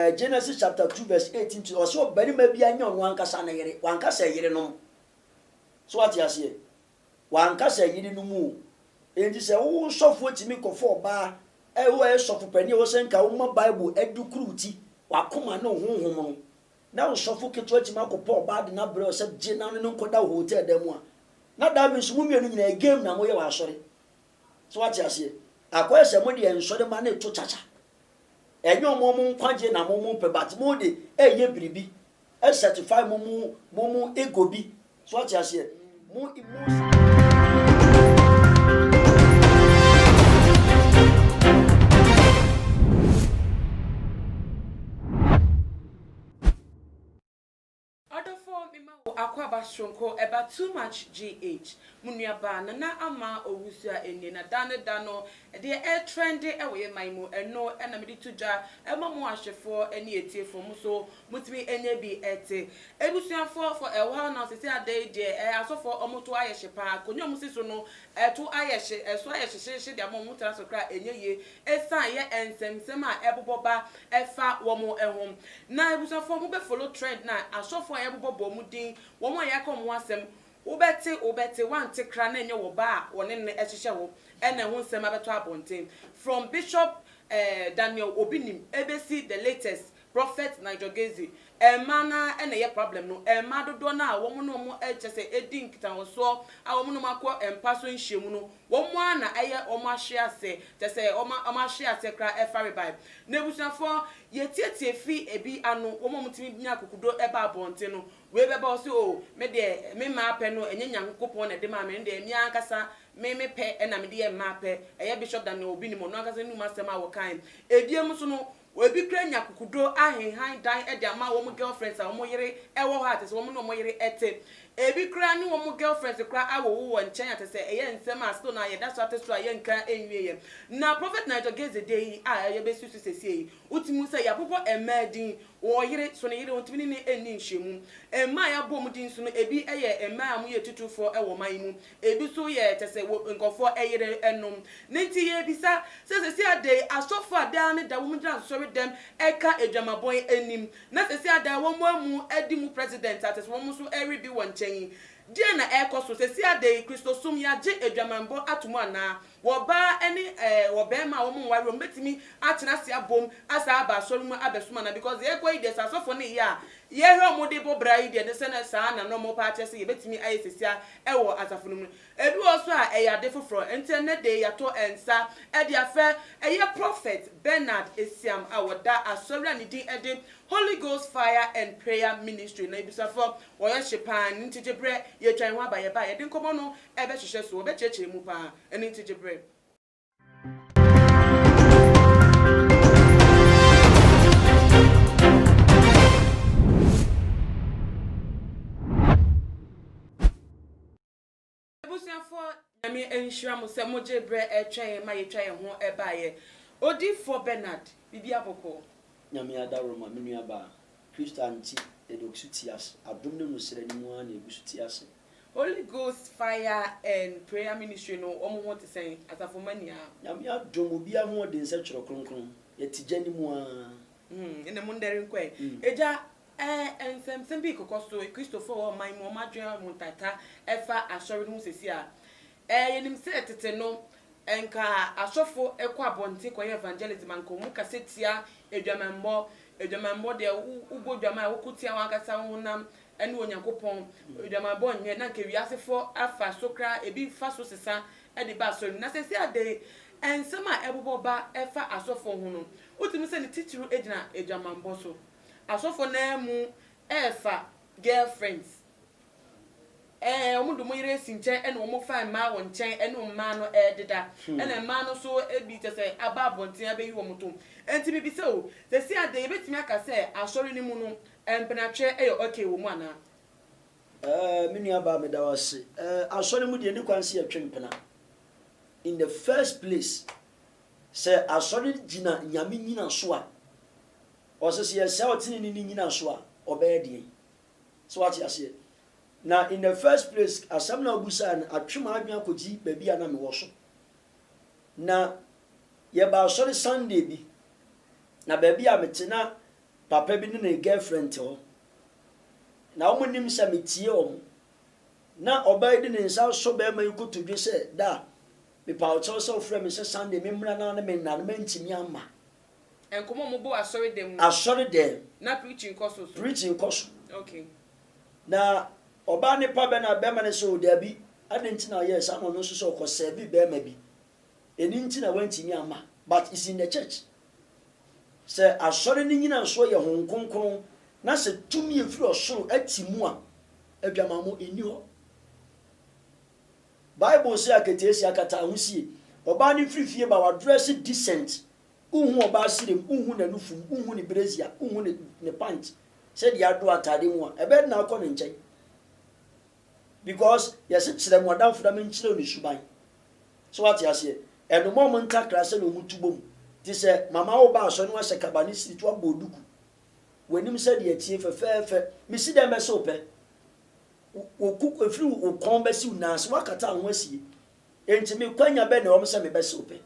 Genesis chapter two verse eighteen to ɔsɛ ɔbarima biara nyɛ ɔno ankasa ne yere, wanka sɛ yerenom. So wate aseɛ? Wanka sɛ yerenom o. Enti sɛ wo sɔfoɔ tumi kɔfa ɔbaa, ɛ, wo a ɛyɛ sɔfo panin a ɛwɔ sɛ nka woma Bible adukuru wo ti, w'akoma ne wo honhom no, na wo sɔfo ketewa tumi akɔpa ɔbaa de no abrɛ wo sɛ gye na wo ne no nkɔda wɔ hotel dan mu a, na that means mo mmienu nyinaa game na moyɛ wɔ asɔre. So wate aseɛ? Akɔyɛ sɛ mo deɛ nsɔremma no reto kyakya. Ɛnyɛ wɔn wɔn nkwagyeɛ na wɔn repɛ but mo de ɛreyɛ biribi ɛ satisfy mo mo mo mo ego bi. So wate aseɛ? Mo emotion. Ɔdɔfo me ma wo akwaaba soronko ɛba too much GH mo nua baa Nana Ama Owusu a ɛnnie na da ne da no ɛdeɛ ɛretrɛnde ɛwɔ yɛ man mu ɛno na mede to dwa ɛma mo ahwɛfoɔ ɛne atiefoɔ mo nso motumi ɛnya bi ɛte Abusuafoɔ for a while now sɛsɛ ada yi deɛ ɛɛ asɔfoɔ ɔmo to ayɛ hye paa akonwa a ɔmo si so no ɛto ayɛ hye ɛso ayɛ hye hye hye de ama ɔmo tena so koraa ɛnyɛ yie Ɛsan yɛ nsɛmnsɛm a ɛbobɔ ba ɛfa wɔn ho. Na abusuafoɔ mo bɛ follow trend na asɔfoɔ a yɛbobɔ bɔ ɔmo din, wɔn a yɛka ɔmo ho asɛm, wo bɛ te wo bɛ te wante kra na ɛnyɛ wɔ ba a wɔne no ɛhyehyɛ hɔ ɛna ɛho nsɛm abɛtɔ abɔnten from bishop eh Daniel obi nim ɛbɛsi the latest Prophet Nigel Gaize, Mmaa no ara na ɛyɛ problem no, mmaa dodoɔ no ara a wɔn ne wɔn kyerɛ sɛ ɛdi nkitahosoɔ a wɔn ne wɔn akɔ mpa so nhyiamu no, wɔn ara na ɛyɛ wɔn ahwe aseɛ, kyerɛ sɛ wɔn wɔn ahwe aseɛ koraa ɛfa rebae. Na abusuafoɔ, yɛtietie firi ɛbi ano, wɔn a wɔtumi nya akokodo ba abɔnten no, wei bɛba ɔse oo me deɛ me mmaa pɛ no ɛnyɛ Nyankopɔn na ɛde maa me, ɛno deɛ me ara ankasa me me pɛ na mede yɛ mmaa pɛ, ɛyɛ Bishop Daniel Obinim ɔno ankasa ne num asɛm a wɔkaeɛ. Ɛbiem nso no, Oebi koraa nya kukudo ahenhan dan de ama wɔn girlfriends a wɔn yere wɔ hɔ a kyerɛ sɛ wɔn ne wɔn yere te. Ebi koraa ne wɔn girlfriends koraa awowo wɔ nkyɛn a kyerɛ sɛ ɛyɛ nsɛm a still na yɛda so ate so a yɛnka nwieɛ. Na Prophet Nigel Geze deɛ yi a yɛbɛsusu sesie yi, wotumi hu sɛ yɛabobɔ mmaa din, wɔn yere so ne yere wɔntumi ne no nni nhyiamu. Mmaa a yɛabɔ wɔn din so no ebi yɛ mmaa a wɔyɛ atutufoɔ wɔ ɔman yi mu, Ebi nso yɛ kyɛ sɛ wɔ nkurɔfoɔ yere nom. Ne nti yɛrebisa sɛ seesei ada yi asɔfoɔ a daa ne da wɔgyina nsɔredɛm ka adwamabɔ yi anim na seesei ada yi wɔamu adi mu president a kyɛ sɛ wɔn nso rebi wɔn nkyɛn yi, deɛn na ɛrekɔ so? Seesei ada yi Kristosom yɛagye adwamanbɔ ato mu anaa? Wɔ ɔbaa ne ɛɛ ɔbarima a wɔn nware wɔn betumi atena ase abom asan aba asɔre mu abɛsom anaa because deɛ ɛrekɔ yi deɛ sɛ asɔfo no yɛ a yɛhwɛ wɔn de bɔ bra yi deɛ ne sɛ na saa na na wɔn pɛ akyerɛ sɛ yɛbetumi ayɛ sesia ɛwɔ asafo no mu no ebi wɔ hɔ nso a ɛyɛ ade foforɔ nti ɛnɛ de yɛato nsa ɛde afɛ ɛyɛ Prophet Bernard Esiam a ɔda asɔre a ne din ɛde Holy Ghost Fire and Prayer Ministry na abusuafoɔ wɔyɛ hye paa nti gye berɛ yɛretwa yɛn ho aba yɛbaa yɛde nkɔmmɔ no ɛbɛhyehyɛ so, wɔbɛkyerɛkyerɛ mu paa, ɛno nti gye berɛ. Abusuafoɔ Nyame nhyira mo sɛ mogyee berɛ ɛtwɛn ma yɛtwa yɛn ho baeɛ. Odiyifoɔ Bernard, biribi abɔkɔɔ? Nyame adaworo ma me nuabaa Kristo ante na deɛ ɔguso te ase adom ne no srɛ no mu ara na ɛguso te ase. Holy Ghost fire and prayer ministry no wɔn ho te sɛn asafo mma nyinaa. Nyame adom obi ahoɔden sɛ twerɛ kronkron yɛte gya no mu ara. Hmm ɛna mo ndɛre nkɔ ɛ. Agya eh nsɛmsɛm bi rekɔkɔ so Kristofo a ɛwɔ ɔman mu wɔn adwene a wɔn ntata ɛfa asɔre no ho sɛsi a Ɛ, yɛnim sɛ tete no, anka asɔfo kɔ abɔnten kɔyɛ evangelism, anka wɔn kasa tia adwamammɔ, adwamammɔ deɛ wo, wobɔ dwam a woko tia wɔn ankasa wo honam ne Onyankopɔn, adwamammɔ nyɛ, na anka wiasefoɔ afa so koraa, ebi fa so sesa de ba asɔre mu. Na seesei adɛn? Nsɛm a ɛbobɔ ba ɛfa asɔfo ho no, wotumi sɛ ne titiriw gyina adwamammɔ so. Asɔfo no ara mu ɛɛfa girlfriends. Ɛɛ, wɔde wɔn yere asi nkyɛn na wɔfa mmaa wɔn nkyɛn ne mmaa no deda. Ɛnna mmaa no nso bi kyerɛ sɛ aba abɔnten abɛyi wɔn to. Enti mibisa o, seesei ade yebetumi aka sɛ asɔre no mu no, mpenatweɛ yɛ okay wɔ mu anaa? Ɛɛ, me nuabaa, meda wo ase. Ɛɛ, asɔre mu deɛ, enni kwan sɛ yɛtwe mpena. In the first place, sɛ asɔre gyina Nyame nnyinaso a, ɔsɛ sɛ yɛsɛe ɔteneneeni nnyinaso a, ɔbɛyɛ deɛn? So wate aseɛ? Na in the first place, asɛm no a wobisaeɛ no atwe m'adwene akɔgyi baabi a na mewɔ so. Na yɛba asɔre Sunday bi, na baabi a mete na papa bi ne ne girlfriend te hɔ. Na wɔn nim sɛ metie wɔn. Na ɔbaa yi de ne nsa asɔ barima yi kotodwe sɛ, Da, mepa wo kyɛw sɛ wofrɛ me sɛ Sunday memmra na ne menna no, mantumi amma. Nkɔmmɔ a wɔbɔ wɔ asɔredan mu. Asɔredan mu. Na preaching kɔ so so. Preaching kɔ so. Okay. Na ɔbaa ne pa bɛ na bɛrima no sɛ o dabi, adɛn nti na ɔyɛɛ saa na ɔno nso sɛ ɔkɔ serve bɛrima bi. Ɛno nti na wantumi amma. But it's in the church. Sɛ asɔre no nyinasoɔ yɛ Honhom Kronkron na sɛ tumi a ɛfiri ɔsoro te mu a, adwamammɔ nni hɔ. Bible se akataasia kata ahosie. Ɔbaa no firi fie ba wadrɛse decent, wonhu ɔbaa serem, wonhu n'anufum, wonhu ne brazier, wonhu ne ne pant sɛdeɛ adɔ ataade mu a, ɛbɛyɛ den akɔ ne nkyɛn because yɛse kyerɛ mo adamfo na menkyerɛw ne suban. So wate aseɛ? Ɛno ma wɔn ntakra sɛdeɛ wɔn tu bom. Te sɛ mama wo ba asɔre na wahyɛ kaba ne siriti wabɔ duku, w'anim sɛdeɛ ɛteɛ fɛfɛɛfɛ, mesi dɛn bɛse wo pɛ? Wo koko, ɛfiri wo kɔn bɛsi wo nan ase, woakata wo ho asie. Enti me kwanya bɛn na ɛwɔ mu sɛ mebɛse wo pɛ?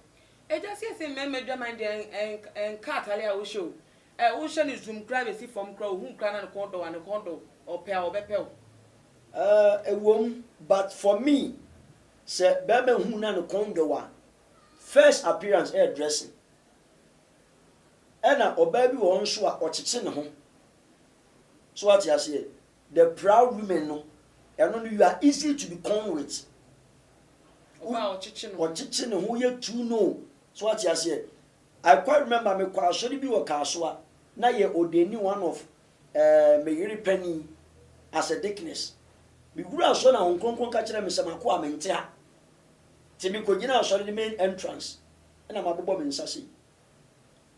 Agya siesie mmarima adwaman deɛ nka atare a wohyɛ o eh wohyɛ no zoom koraa bɛsi fam koraa ohu koraa na ne kɔn dɔ wo a ne kɔn dɔ wo ɔpɛ a ɔbɛpɛ wo. Eh ɛwom but for me sɛ barima hu na ne kɔn dɔ wo a first appearance ɛyɛ dressing ɛna ɔbaa bi wɔ hɔ nso a ɔkyekye ne ho so wate aseɛ The proud women no ɛno no you are easy to be con with. Ɔbaa ɔkyekye ne ho. Ɔkyekye ne ho yɛ too no. So wate aseɛ? I quite remember me kɔ asɔre bi wɔ Kasoa na yɛ ɔdeni one of eh, me yere panin as a deaconess. Me wura asɔre na Honhom Kronkron ka kyerɛɛ me sɛ m'akoa mente ha. Te me kɔgyina asɔre ne main entrance ɛna mabobɔ me nsa sei.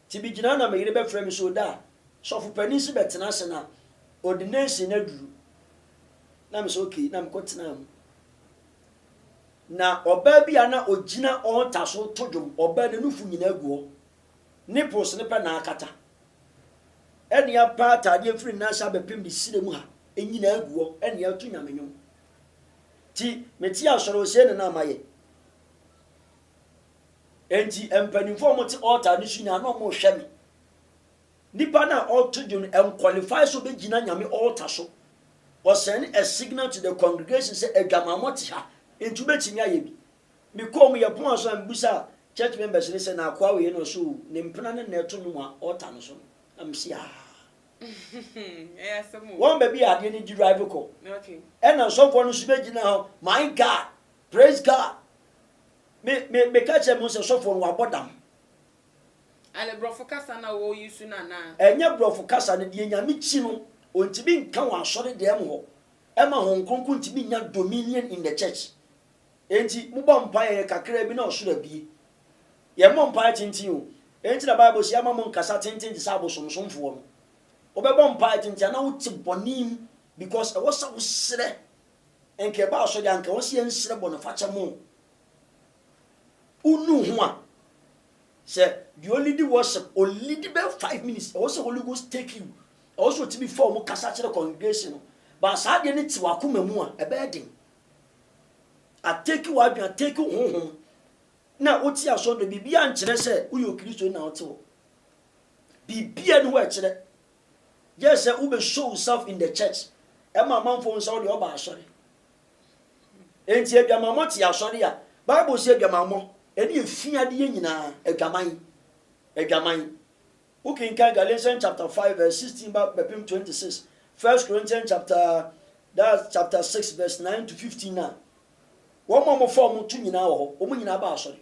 Tse bi gyina na me yere bɛfrɛ me sɛ oda a, sɔfo panin se bɛtena ase na ordination no aduru. Na me sɛ ok, na mekɔ tenaa mu. Na ɔbaa bi a na ogyina altar so reto dwom, ɔbaa ne nufu nyinaa gu hɔ, nipples no pɛ na akata. Ɛne apa ataadeɛ firi ne nan ase abɛpem ne sire mu ha, nyinaa gu hɔ, ɛne ato Nyame nwom. Nti, mete asɔre ɔsɛe no na mayɛ. Enti mpanyimfo a wɔte altar no so nyinaa na wɔrehwɛ me. Nipa no a ɔreto dwom no, ɛnkwalifai sɛ obegyina Nyame altar so. Ɔsɛne a signal to the congregation sɛ adwamammɔ te ha, enti wobetumi ayɛ bi. Mekɔɔ mu, yɛpon aso a mibisaa church members no sɛ, Na akoa wei no, ɔsɛ o, ne mpena no na ɛreto nnwom wɔ altar no so no? Na mese, Yaa. Wɔn baabi a adeɛ no derive kɔ. Ɛnna nsɔfoɔ no nso begyinaa hɔ, My God! Praise God! Me me meka kyerɛ mo sɛ sɔfoɔ no wabɔ dam. Ɛne brɔfo kasa na wɔ use no anaa? Ɛnyɛ brɔfo kasa no deɛ nyame kyi no ɔntumi nka wɔ asɔre dɛm hɔ ɛma hon kronkron ntumi nnya dominion in the church enti mobɔ mpaeɛ kakraa bi na ɔsoro abie yɛ mmɔ mpaeɛ tenten o enti na bible se ama mo nkasa tenten te sɛ abosomsomfoɔ no wobɛbɔ mpaeɛ tenten ana wote bɔne mu because ɛwɔ sɛ wo serɛ Nka ɛba asɔre a nka wɔn se yɛn nsrɛ bɔnefakyɛ mo o. Wo nu ho a, sɛ deɛ ɔlidi worship, ɔlidi bɛ five minutes, ɛwɔ sɛ Holy Ghost take you, ɛwɔ sɛ ɔtumi fa ɔmo kasa kyerɛ congregation no, ba saa adeɛ no te wakoma mu a, ɛbɛyɛ den. A take w'adwene, a take wo honhom, na wote asɔre no, biribiara nkyerɛ sɛ woyɛ okristoni na wote hɔ. Biribiara ni hɔ ɛkyerɛ Gyɛɛ sɛ wo bɛ show self in the church ɛma amanfoɔ hu sɛ wo deɛ ɔba asɔre. Enti adwamammɔ te asɔre a, Bible sɛ adwamammɔ ɛne ɛfi adeɛ nyinaa, adwaman, adwaman. Wo kenkan Galatians chapter 5 verse 16 ba bɛpem 26, First Corinthians chapter, that's chapter 6 verse 9 to 15 na, wɔn a wɔfa wɔn to nyinaa wɔ hɔ, wɔn nyinaa ba asɔre.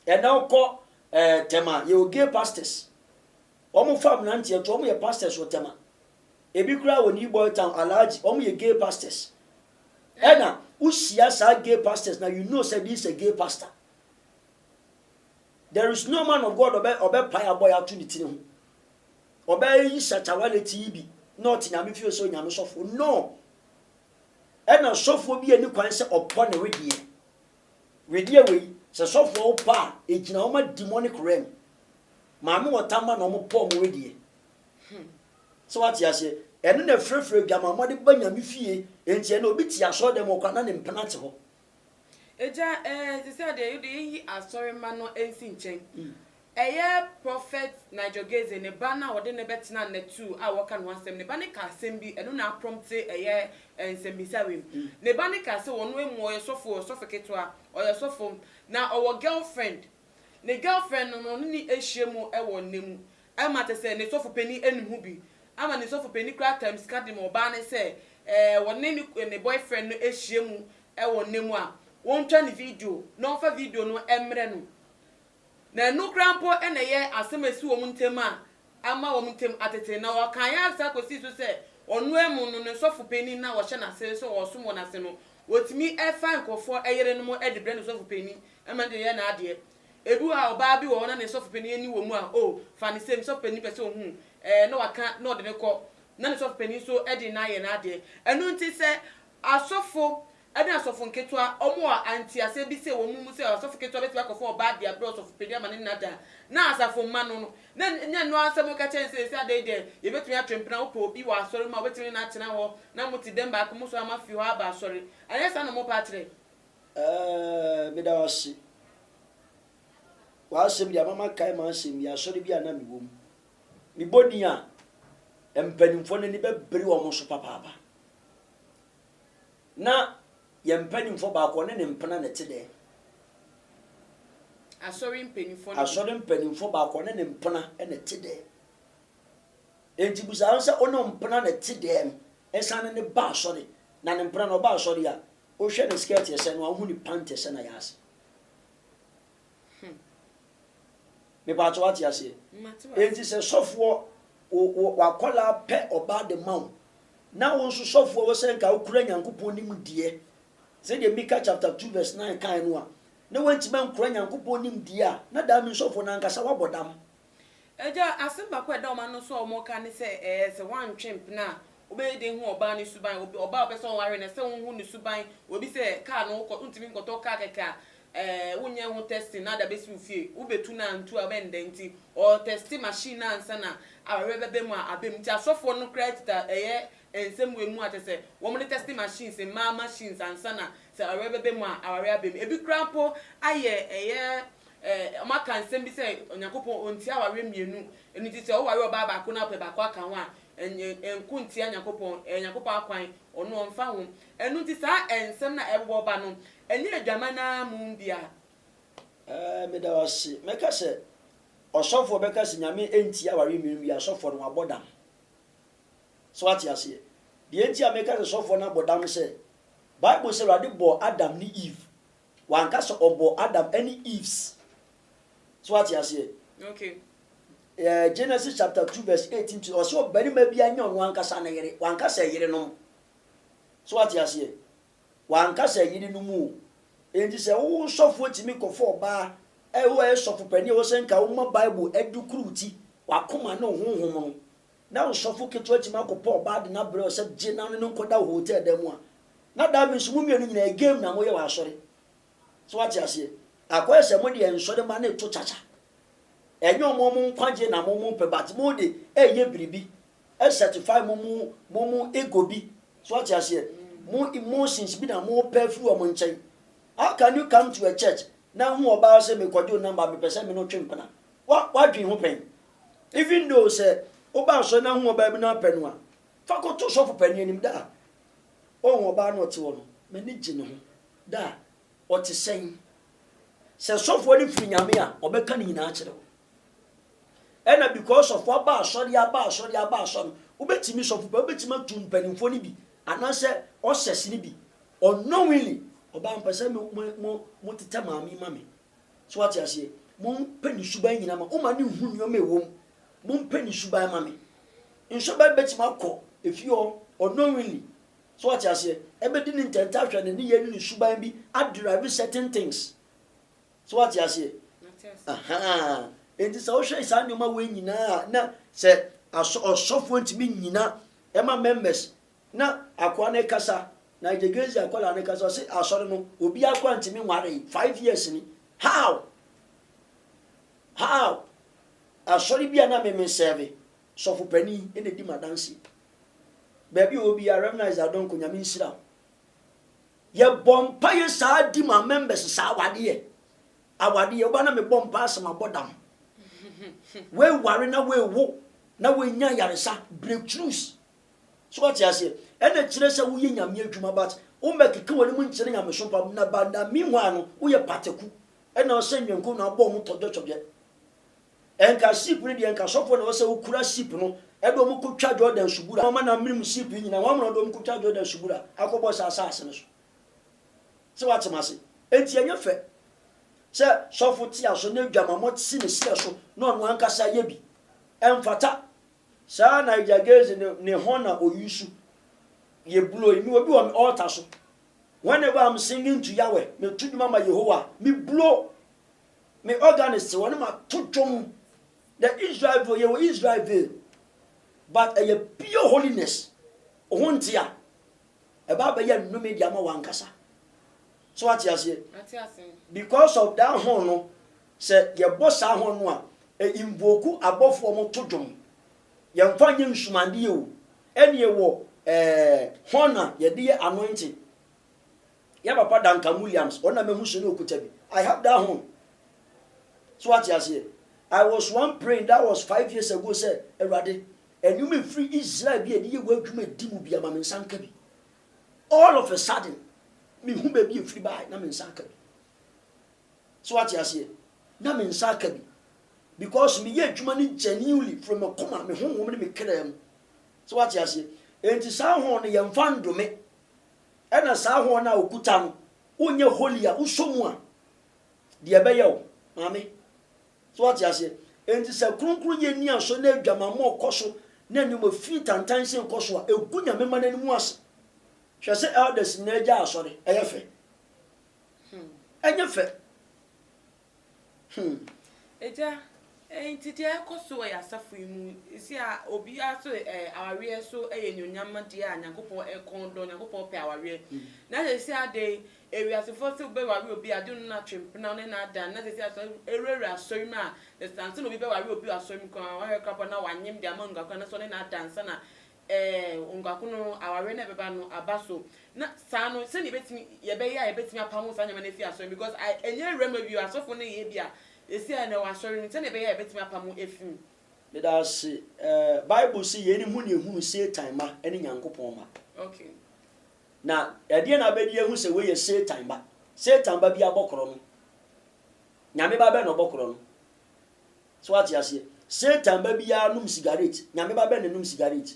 Ɛnɛ wokɔ eh, tɛma, yɛwɔ gay pastors. Wɔn fa abranteɛ to wɔn yɛ pastors wɔ tema ebi koraa wɔ new boy town alhaji wɔn yɛ gay pastors ɛna wo hyia saa gay pastors na you know sɛ this a gay pastor there is no man of God ɔbɛ ɔbɛ pae abɔ yɛ ato ne tiri ho ɔbɛ yi shatawale ti yi bi na ɔte nyame fie sɛ onyame sɔfo no ɛna sɔfoɔ bi ani kwan sɛ ɔpɔ ne wedeɛ Wedeɛ wei sɛ sɔfoɔ wo pɛ a ɛgyina ɔma demonic realm maame wɔta ma na ɔmo pɛ ɔmo wedeɛ sɛ wate aseɛ ɛno na ɛfrɛfrɛ adwamammɔ de ba nyame fie enti ɛnɛ obi te asɔre dɛm ɔkɔ ana ne mpena te hɔ. Agya ɛɛ sisɛ deɛ yɛde yɛyi asɔre ma no ɛnsi nkyɛn Ɛyɛ Prɔfɛt Nigel Gaize ne ba no a wɔde no bɛtenaa Natou a wɔka ne ho asɛm. Ne ba no kaa asɛm bi, ɛno na aprɔmte ɛyɛ nsɛmmisa wim. Ne ba no kaa sɛ ɔno mmom ɔyɛ sɔfo, ɔyɛ sɔfo ketewa, ɔyɛ sɔfo, na ɔwɔ girlfriend. Ne girlfriend no, na ɔne no ahyia mu wɔ nna mu, ama kyerɛ sɛ ne sɔfo panin anim ho bi, ama ne sɔfo panin koraa kaa sika de ma ɔbaa no sɛ ɔne ne ne boyfriend no ahyia mu wɔ nna mu a, wɔntwa no video na wɔmfa video no mmrɛ no. Na ɛno koraa mpo na ɛyɛ asɛm a esi wɔn ntam a ama wɔn ntam atete. Na wɔkan ara saa kosii so sɛ ɔno ara mu no, ne sɔfo panyin no a wɔhyɛ n'ase sɛ ɔresom wɔn ase no, otumi fa nkurɔfo yerenom de brɛ ne sɔfo panyin ma no de yɛ n'adeɛ. Ebi wɔ hɔ a, ɔbaa bi wɔ hɔ na ne sɔfo panyin ani wɔ mu a, oh, fa no sei, me sɔfo panyin pɛ sɛ ohu wo, ɛɛ, na waka na ɔde no kɔ, na ne sɔfo panyin nso de no ayɛ n'adeɛ. Ɛno nti, sɛ asɔfo Ɛne asɔfo nketewa, wɔn a ntease bi sɛ wɔn mu sɛ ɔsɔfo ketewa betumi akɔfa ɔbaa de abrɛ ɔsɔfo panyin ama ne nna da, na asafo mma no no, na ɛnyɛ ɛno ara nsɛm wɔka kyerɛ no sɛ, Esi adɛn dɛ yebetumi atwe mpena wopɛ obi wɔ asɔre mu a wobetumi ne no atena hɔ na mote dɛm baako mu so ama afi hɔ aba asɔre? Anyɛ saa na wɔn pɛ akyerɛ? Ɛɛ, meda wo ase. W'asɛm de ama makae m'asɛm bi, asɔre bi a na mewɔ mu. Mebɔ din a, mpanimfoɔ no ani bɛbere wɔn so papaapa. Na yɛn mpanimfoɔ baako, ɔne ne mpena na ɛte dɛn? Asɔre mpanimfoɔ no bi. Asɔre mpanimfoɔ baako, ɔne ne mpena na ɛte dɛn? Enti busa no sɛ, ɔne wo mpena na ɛte dɛn? Ɛsane ne ba asɔre, na ne mpena no ɔba asɔre a, wohwɛ ne skirt ɛsɛn no a, wohu ne pant ɛsɛn a ɛyɛ ase. Hmm. Mepatɔ wate aseɛ. Mate wate. Enti sɛ sɔfoɔ wo- wo- wakɔlaa pɛ ɔbaa de ma wo, na wo nso sɔfoɔ wo sɛ nka wokura Nyankopɔn nimdeɛ, sɛdeɛ Mika chapter 2 verse 9 kaeɛ no a, na woantumi ankura Nyankopɔn nimdeɛ a, na that means sɔfoɔ no ankasa wabɔ dam. Agya, asɛm baako a ɛda wɔn ano nso a wɔka ne sɛ, Ɛɛ, sɛ woantwe mpena a, wobɛyɛ dɛn hu ɔbaa no suban? Obi, ɔbaa a wopɛ sɛ woware no, ɛsɛ sɛ wuhu ne suban. Obi sɛ kaa no, wokɔ, wuntumi nkɔtɔ kaa kɛkɛ a, ɛɛ, wonyɛɛ ho testing na ade abesi wo fie. Wubetu no a, antu a, wobɛyɛ no dɛn? Enti, wɔtɛste machine no ansa na awareɛ bɛba mu a, aba mu. Enti asɔfoɔ no koraa kita ɛyɛ Nsɛm wei mu a kyerɛ sɛ wɔn ne testing machines, mmaa machines ansa na sɛ awareɛ bɛbɛ mu a awareɛ abɛ mu. Ɛbi koraa mpo ayɛ ɛyɛ wɔn aka nsɛm bi sɛ Onyankopɔn ɔntia awareɛ mmienu ɛno nti sɛ woware ɔbaa baako na wopɛ baako aka ho a ɛnko ntia Nyankopɔn ɛyɛ Nyankopɔn akwan ɔno ɔmfa ho. Ɛno nti saa nsɛm no a ɛbobɔ ba no ɛnyɛ adwaman no ara mmom dea. Ɛɛ meda wo ase. Mɛka sɛ ɔsɔfoɔ bɛka sɛ Nyame ɛntia awareɛ mmienu bi a asɔfoɔ no wɔabɔ dam. So woate aseɛ? Deɛ nti a meka sɛ sɔfoɔ no abɔ dam ne sɛ, Bible sɛ Awurade bɔɔ Adam ne Eve. Wanka sɛ ɔbɔɔ Adam ne Eves. So woate aseɛ? Okay. Eh, Genesis chapter 2 verse 18 to ɔsɛ ɔbarima bi anyɛ ɔno ankasa ne yere. Wanka sɛ yerenom. So woate aseɛ? Wanka sɛ yerenom o. Enti sɛ wo sɔfoɔ tumi kɔfa ɔbaa a ɛwɔ ɛyɛ sɔfo panin a ɛwɔ sɛ nka woma Bible adukuru wo ti, w'akoma ne wo honhom no, Ná ɔsɔfo ketewa tumi akɔpɛ ɔbaa de no abrɛ hɔ sɛ gye na ɔne no nkɔda wɔ hotel dan mu a, na dabi nso mo mmienu nyinaa game na moyɛ wɔ asɔre. So woate aseɛ? Akɔyɛ sɛ mo deɛ nsɔre mma no reto kyakya. Ɛnyɛ wɔn wɔn nkwagyeɛ na mo mo pɛ but mo de reyɛ biribi ɛ satisfy mo mo mo mo ego bi. So woate aseɛ? Mo emotions bi na mopɛ afiri wɔn nkyɛn. How can you come to a church na wohu ɔbaa sɛ mekɔgye wo number mepɛ sɛ me ne wo twe mpena? Wa w'adwene ho pɛn? Even though sɛ woba asɔre na hu ɔbaa bi na wopɛ no a, fa kɔto sɔfo panin anim da a ɔhu ɔbaa no ɔte hɔ no, m'ani gye ne ho da a ɔte sɛn. Sɛ sɔfoɔ no firi Nyame a, ɔbɛka ne nyinaa akyerɛ wo. Ɛna because sɔfoɔ aba asɔre aba asɔre aba asɔre no, wobɛtumi sɔfo pɛ wobɛtumi atu mpanimfoɔ no bi anaasɛ ɔsɛs no bi unknowingly ɔbaa mpɛ sɛ mo mo mo tetɛ maame ma me So wate aseɛ? Mompɛ ne suban nyina ma woma no nhu nneɛma ɛwɔ mu. Mompɛ ne suban ma me. Nso ɛbɛ bɛtumi akɔ efie hɔ unknowingly. So wate aseɛ? Ɛbɛdi ne ntɛntɛahwɛ, ne nneyɛɛ ne ne suban bi adrive certain things. So wate aseɛ? Ahaa. Enti sɛ wohwɛ saa nneɛma wei nyinaa a na sɛ asɔ ɔsɔfoɔ ntumi nnyina ɛma members Na akoa no kasa, Nigergese akwadaa no kasa, ɔse asɔre no obiaa koraa ntumi nwaree, five years ni, how? How? Asɔre bi a na me me sɛɛve, sɔfo panin na edi m'adanseɛ. Baabi a ɔwɔ biaa, Rev. Isaac Adonko, Nyame nhyira wo. Yɛbɔ mpaeɛ saa di ma members saa awadeɛ, awadeɛ, woba na mebɔ mpaeɛ asɛ mabɔ dam. Woaware na woawo, na woanya ayaresa, breakthroughs. So wate aseɛ? Ɛna kyerɛ sɛ woyɛ Nyame adwuma but wommɛkeka w'anim nkyerɛ nyamesom pa mu na by the meanwhile no woyɛ pataku ɛna ɔsɛ nnwankuo na abɔ wɔn tɔdwɛtɔdwɛ. Ɛnka ship no deɛ nka sɔfoɔ na ɛwɔ sɛ wokura ship no ɛde wɔn kɔtwa Jordan subura wɔn na amene mu ship yi nyinaa wɔn na wɔde wɔn kɔtwa Jordan subura akɔbɔ saa asaase no so. Sɛ wate m'ase? Enti ɛnyɛ fɛ sɛ sɔfo te aso na adwamammɔ si ne serɛ so na ɔno ankasa yɛ bi. Ɛmfata. Saa Niger Gaze no ne hɔ na oyusu yɛ blow. Mewɔ bi wɔ me altar so. Whenever I'm singing to Yahweh, meto dwom ama Yehowa a, me blow. Me organist wɔ no ma to dwom. The Israel duo, yɛwɔ Israelville. But ɛyɛ pure holiness. Wo ho nte a, ɛba bɛyɛ nnome de ama w'ankasa. So wate aseɛ? Mate ase. Because of that horn no, Sɛ yɛbɔ saa hɔn no a, e mbuoku abɔfoɔ mo to dwom, yɛmfa nyɛ nsumadeɛ o, ɛneɛ wɔ eh hɔn na yɛde yɛ anointing, yɛ papa Duncan Williams, ɔno na mahu so na ɔkuta bi, I have that horn, so wate aseɛ, I was one praying, that was five years ago sɛ, Awurade, nneɛma a ɛfiri Israel bi a yɛde yɛ w'adwuma di mu biara ma me nsa nka bi, all of a sudden, mehu baabi a ɛfiri baeɛ na me nsa aka bi. So wate aseɛ? Na me nsa aka bi. Because meyɛ adwuma no genuinely from m'akoma, me honhom ne me kraa mu. So wate aseɛ? Enti saa horn no yɛmfa ndome. Ɛna saa horn no a okuta no, wonyɛ holy a, wosɔ mu a, deɛ ɛbɛyɛ wo, maame. So wate aseɛ? Enti sɛ kronkronyɛ nni aso na adwamammɔ rekɔ so na nneɛma fi tantan sei rekɔ so a, egu Nyame mma no anim ase. Hwɛ sɛ elders nyinaa gyae asɔre. Ɛyɛ fɛ. Ɛnyɛ fɛ. Hmm. Agya, enti deɛ ɛkɔ so wɔ yɛ asafo yi mu, ɛsi a obiara so eh, awareɛ so eh, yɛ nnuonyam deɛ a Nyankopɔn ɛkɔn eh, dɔ, Nyankopɔn pɛ awareɛ. Mm. Na sɛ ɛsi ade, ewiasefoɔ so bɛware obi a, de no no atwe mpena ne na ada. Na sɛ ɛsi asɔre, ɛwurawura asɔre mu a, na sɛ ansa na obi bɛware obi wɔ asɔre mu koraa, wahwɛ koraa na wanyem de ama nguakora no so ne na ada ansa na Ɛɛ, nguako no, awareɛ no a ɛbɛba no aba so. Na saa no, sɛdeɛ yɛbɛtumi, yɛbɛyɛ a yɛbɛtumi apamo saa nneɛma no afiri asɔre mu, because I, ɛnyɛ awura mu awie o, asɔfo no yɛ bi a, ɛsi a na ɛwɔ asɔre mu, sɛdeɛ ɛbɛyɛ a yɛbɛtumi apamo afiri mu. Meda wo ase. Ɛɛ, Bible se, Yei ne ho na ɛhunu Satan mma ne Nyankopɔn mma. Okay. Na ɛdeɛn na abɛdi ahu sɛ wei yɛ Satan ba? Satan ba biara bɔ korɔ no. Nyame ba bɛn na ɔbɔ korɔ no? So woate aseɛ? Satan ba biara nom sigaret, Nyame ba bɛn na ɛnom sigaret?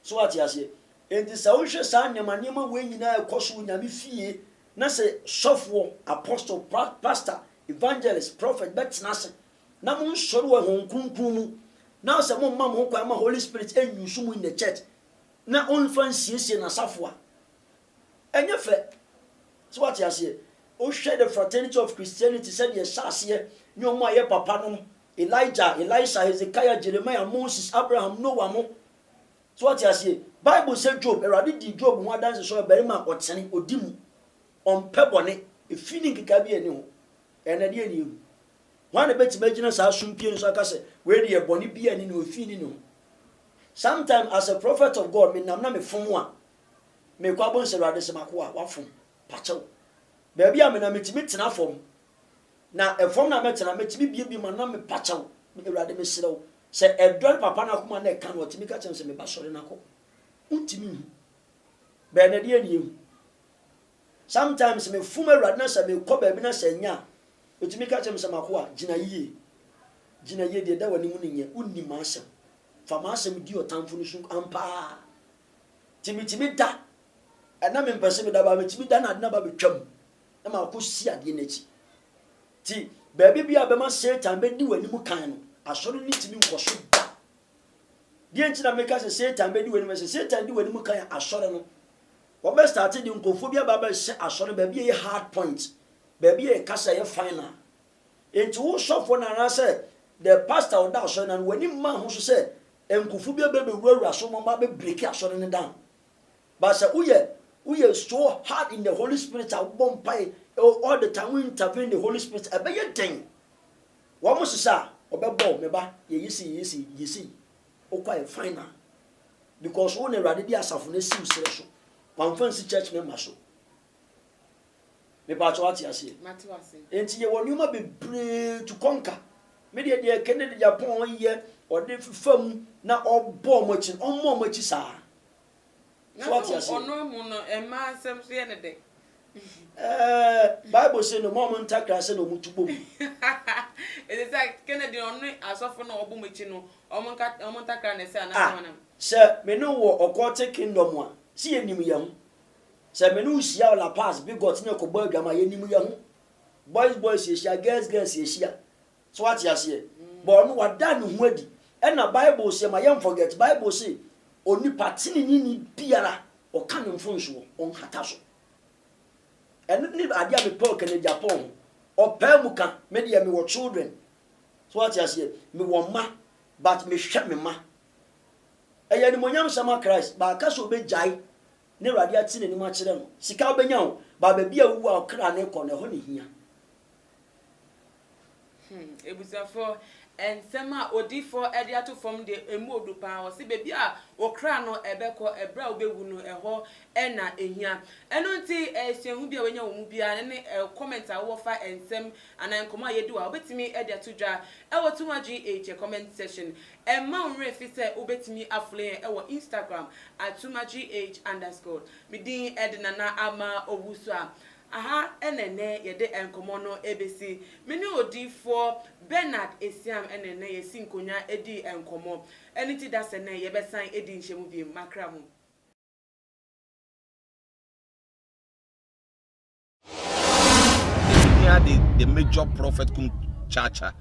So woate aseɛ? Enti sɛ wohwɛ saa nneɛma nneɛma wei nyinaa ɛkɔ so wɔ Nyame fie, na sɛ sɔfoɔ, apostle, pra, pastor, evangelist, prophet bɛtena ase, na mo nsɔre wɔ Honhom Kronkron mu, na sɛ mo mma mo ho kwan ma Holy Spirit ɛn use mo in the church, na ɔnfa nsiesie N'asafo a, Ɛnyɛ fɛ. So wate aseɛ? Wohwɛ The Fraternity of Christianity, sɛdeɛ ɛhyɛ aseɛ, ne wɔn a wɔyɛ papa nom, Elijah, Elisha, Hezekiah, Jeremiah, Moses, Abraham, Noah mo. So wate aseɛ? Bible sɛ Job, Awurade dii Job ho adanse sɛ ɔyɛ barima a ɔtene, ɔdi mu, ɔmpɛ bɔne, efi ne nkekaeɛ biara nni ho. Ɛɛ, na deɛ ne yɛhu? Hwan na ɛbɛtumi agyina saa sumpie no so aka sɛ, wei deɛ bɔne biara nni ne ho, efi nni ne ho? Sometime as a prophet of God, menam na mefom a, Mekɔ abɔnsa awurade sɛ makoa wafom pakyɛw baabi a menam metumi tena fam na ɛfam na mɛtena metumi biebie ma nam me pakyɛw awurade mesrɛ wo sɛ ɛdɔre papa no akoma na ɛka no ɔtumi ka kyɛm sɛ meba sɔre no akɔ wontumi nhu bɛɛ na deɛ nie hu sometimes mefom awurade na sɛ mekɔ baabi na sɛ nya ɛtumi ka kyɛm sɛ makoa gyina yie gyina yie deɛ da w'anim no nyɛ wonni m'asɛm fa m'asɛm di ɔtamfo no so ampaa Nti metumi da, ɛna mempɛ sɛ meda baa metumi da na ade no aba bɛtwa mu na makɔsi adeɛ no akyi. Nti baabi bia bɛma Satan bɛdi w'anim kan no, asɔre no ntumi nkɔ so da. Deɛ nti na meka sɛ Satan bɛdi w'anim, sɛ Satan di w'anim kan a asɔre no, wɔbɛ starte de nkurɔfoɔ bi aba bɛhyɛ asɔre no baabi a ɛyɛ hard point, baabi a ɛka sɛ ɛyɛ final. Nti wo sɔfoɔ no anaasɛ the pastor ɔda asɔre no ano, w'ani mma ho so sɛ Nkufo bi bɛ bɛwurawura so ma ma bɛ breaki asɔre no down but sɛ wo yɛ wo yɛ so hard in the holy spirit a wo bɔ mpae all the time wo intervene the holy spirit ɛbɛ yɛ den wɔn mo sesa a ɔbɛ bɔ me ba yɛ yi si yi si yi si wo kwa yɛ final because wo na awurade de asafo no asiw serɛ so wɔn anfa nsi church member so. Mepakyɛw wate aseɛ? Mate wase. Nti yɛwɔ nneɛma bebree to kɔnka. Me deɛ deɛ Kennedy Japon yɛ ɔde fifa mu na ɔbɔ ɔmo akyi no ɔmma ɔmo akyi saa. So wate aseɛ? Ɔno amu no mmaa nsɛm so yɛ ne dɛ. Ɛɛ Bible se no ma ɔmo ntakra ase na ɔmo tu bɔ mu. Ɛsɛ sɛ Kennedy no ɔne asɔfo no ɔbɔ ɔmo akyi no ɔmo nka ɔmo ntakra na ɛsɛ anaa sɛ wɔn nam. Sɛ me ne wo wɔ ɔkɔɔte kingdom a, se yɛ nim yɛ ho. Sɛ me ne wo hyia wɔ La Paz, Bigote ne yɛkɔbɔ adwaman a, yɛnim yɛn ho. Boys boys yɛhyia, girls girls yɛhyia. So woate aseɛ? But ɔno wada ne ho adi. Ɛna Bible se, ma yɛn forget, Bible se, Onipa teneneeni biara, ɔka ne mfomsoɔ, ɔnhata so. Ɛno ne adeɛ a mepɛ ɔka no Japan ho. Ɔpaa mu ka, me deɛ mewɔ children. So woate aseɛ? Mewɔ mma, but mehwɛ me mma. Ɛyɛ animuonyam sɛm ma Christ, but aka sɛ obegyae na Awurade ate n'anim akyerɛ no. Sika wobenya o, but baabi a wuwu a wo kra no rekɔ no, ɛhɔ na ehia. Hmm, abusuafo, nsɛm a odiyifo de ato fam de, emu odu paa. Ɔse baabi a wo kra no ɛbɛkɔ ɛberɛ a wobewu no, ɛhɔ na ehia. Ɛno nti, suahu bi a wanya wɔ mu biara, ɛno ne comment a wowɔ fa nsɛm anaa nkɔmmɔ a yɛadi wɔ ha, wobɛtumi de ato dwa wɔ Too Much GH comment section. Ɛmma wo werɛ fi sɛ wobɛtumi afrɛ yɛn wɔ Instagram at sumatrih underscore. Me din de Nana Ama Owusu a aha na ɛnnɛ yɛde nkɔmmɔ no bɛsi. Me ne Odiyifoɔ Bernard Esiam na ɛnnɛ yɛsi nkonnwa di nkɔmmɔ. Ɛno nti da sɛ nnɛ yɛbɛsan adi nhyiamu bio. Makra mu. Yɛhia the the major prophet kum chacha.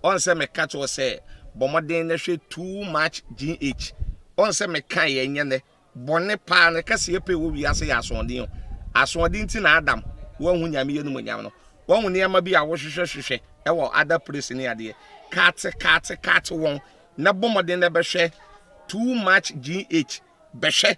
Ɔn sɛ meka kyerɛ sɛ bɔ mmɔden na hwɛ too much GH. Ɔn sɛ meka yɛ nyɛ nɛ bɔne paa ne kɛse yɛ pɛ wɔ wiase yɛ asoɔden o. Asoɔden ti na Adam wanhu Nyame yɛ no mu nyam no. Wahu nneɛma bi a wohwehwɛ hwehwɛ ɛwɔ other place ne adeɛ. Kaate kaate kaate wɔn na bɔ mmɔden na bɛhwɛ too much GH. Bɛhwɛ